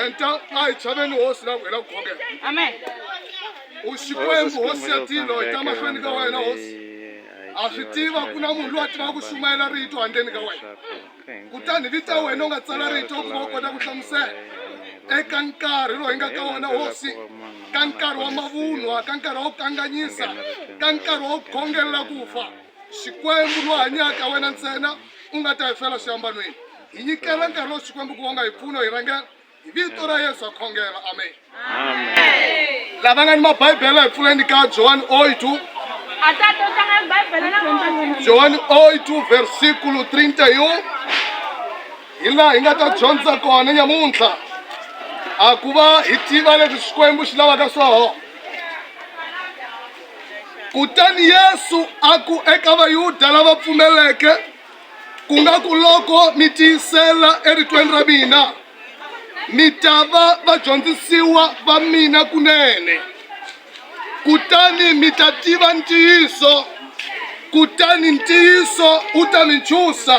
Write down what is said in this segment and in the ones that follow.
enta ai tshaveni hosi na ku hela ku khongela amen u xikwembu hosi ya tilo hi ta mahlweni ka wena hosi a swi tiva ku na munhu loyi a tivaka ku xumayela rito handleni ka wena kutani vita wena u nga tsala rito ku va u kota ku hlamusela eka nkarhi lowu hi nga ka wona hosi ka nkarhi wa mavunwa ka nkarhi wa ku kanganyisa ka nkarhi wa ku khongelela ku fa Xikwembu lo hanyaka, wena ntsena u nga ta hi fela swiambanweni. Hi nyikela nkarhi lowu Xikwembu ku vonga hi mpfuno hi rhangela hi vito ra Yesu ha khongela. Amen. Lava nga ni mabibele hi pfuleni ka Johani 8 Johani 8 versikulo 31 hi laha hi nga ta dyondza kona nyamuntlha a ku va hi tiva leswi Xikwembu xi lavaka swoho. kutani yesu a ku eka vayuda lava pfumeleke ku nga ku loko mi tiyisela eritweni ra mina mi ta va vadyondzisiwa va mina kunene kutani mi ta tiva ntiyiso kutani ntiyiso wu ta mi ntshusa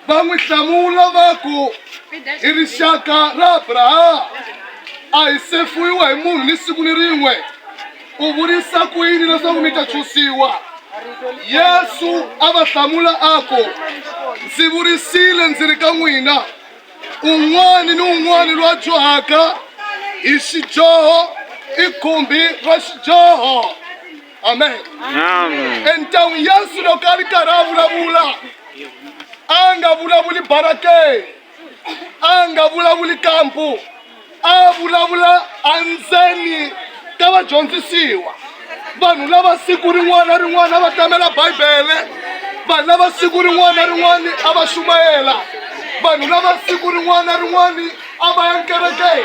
va n'wi hlamula va ku i rixaka ra abrahama a hi sefuyiwa hi munhu ni siku ni rin'we u vurisa ku yini leswaku mi ta chusiwa yesu a va hlamula a ku ndzi vurisile ndzi ri ka n'wina un'wana ni un'wana loyi a dyohaka hi xidyoho i khumbi ra xidyoho amen Amen. entawu yesu loko a ri karhi a vulavula a nga vulavuli barake a nga vulavuli kampu a vulavula endzeni ka vadyondzisiwa vanhu lava siku rin'wana rin'wana va tamela bibele vanhu lava siku rin'wana rin'wana a va xumayela vanhu lava siku rin'wana rin'wana a va ya nkerekeni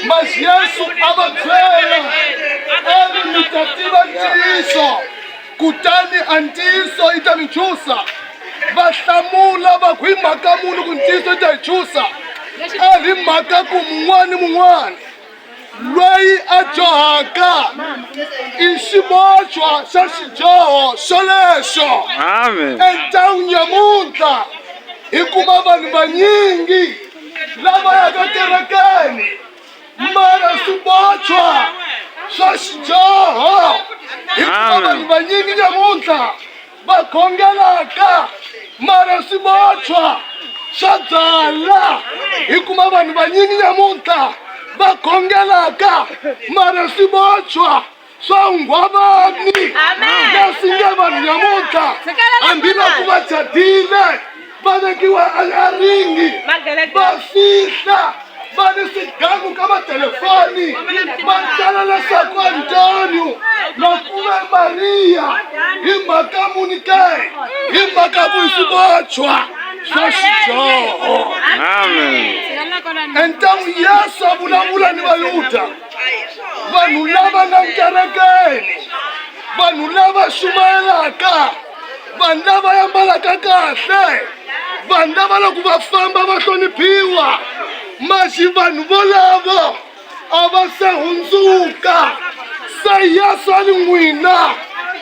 mas yesu a va byela a ri mi ta tiva ntiyiso kutani a ntiyiso yi ta mi chusa va hlamula va ku hi mhaka muni ku ntiyiso yi ta hi chusa a hi mhaka ku mun'wana ni mun'wana loyi a dyohaka i xibochwa xa xidyoho xolexo Amen. entawini nyamuntlha hikuva vanhu vanyingi lava yaka kerekeni mara swibochwa swa xidyoho hikuva Amen. vanhu vanyingi nyamuntlha va khongelaka mara swi votshwa swa byala hi kuma vanhu vanyingi nyamuntlha va khongelaka mara swi votshwa swa nghwavani leswi nge vanhu nyamuntlha hambiloko va chadile va vekiwa eringi va fihla va ni swigangu ka matelefoni va tala leswaku antonio makume mariya hi mhaka muni ke hi mhaka vuisibotshwa bya xidyoho entangu yesu a vulavula ni vayuda vanhu lava nga nkerekeni vanhu lava xumayelaka vanhu lava yambalaka kahle vanhu lava loko va famba va hloniphiwa maxi vanhu volavo a va se hundzuka se yeswani n'wina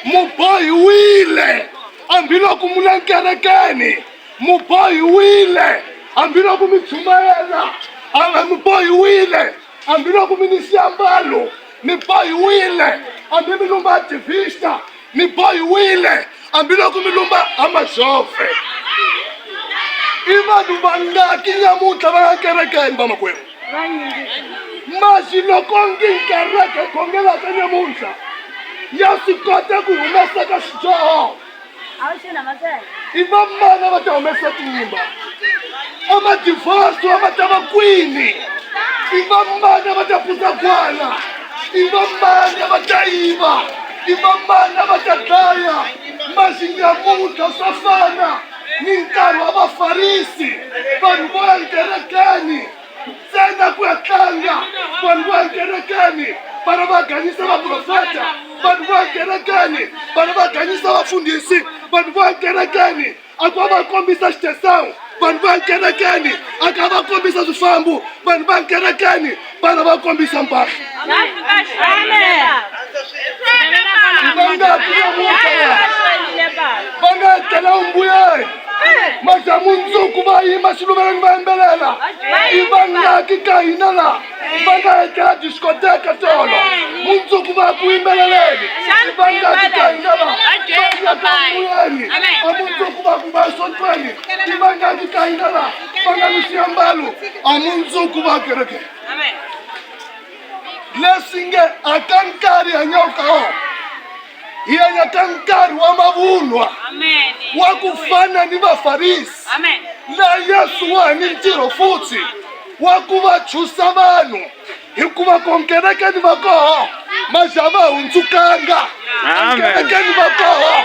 mubohiwile hambiloko mu le nkerekeni mubohiwile hambiloko mi chumayela a mubohiwile hambiloko mi ni swiambalo mi bohiwile hambi mi lumba divista mi bohiwile hambiloko mi lumba amazove i vanhu vangaki nyamuntlha va nga kerekeni vamakwerhu masi loko ngi kereke khongelaka nyamuntlha ya swi kota ku humesaka xidyoho a wu xana mavele i vamana va ta humesa timba amadivaso va ta va kwini i vamana va ta pusa kwana i vamana va ta yiva i vamana va ta dlaya maxinyamutlha swa fana ni nkarhi wa vafarisi vanhu vo ya nkerekeni ntsena ku ya tlanga vanhu vo ekerekeni vana va ganyisa vaprofeta vanhu vo ekerekeni vana va ganyisa vafundhisi vanhu vo ekerekeni a ku va va kombisa xitesawu vanhu va ekerekeni a ka va kombisa swifambo vanhu va ekerekeni vana va kombisa mpahla va nga tela umbuyeni majamunzuku va yima xiluveleni va yimbelela i vangaki ka hina la va nga etlela diskoteka tolo mundzuku va ku yimbeleleni i vangaki ka hina la vayakamuyeni a mundzuku va ku va sontweni i vangaki ka hina la va nga ni xiambalo a mundzuku va kereke leswi nge a ka nkarhi hanyaka ka wona hi hanya ka nkarhi wa mavunwa wa ku fana ni vafarisi laha yesu wa ha ni ntirho futhi wa ku va chusa vanhu hikuva ku nkerekeni va koho maxa va hundzukanga enkerekeni va koho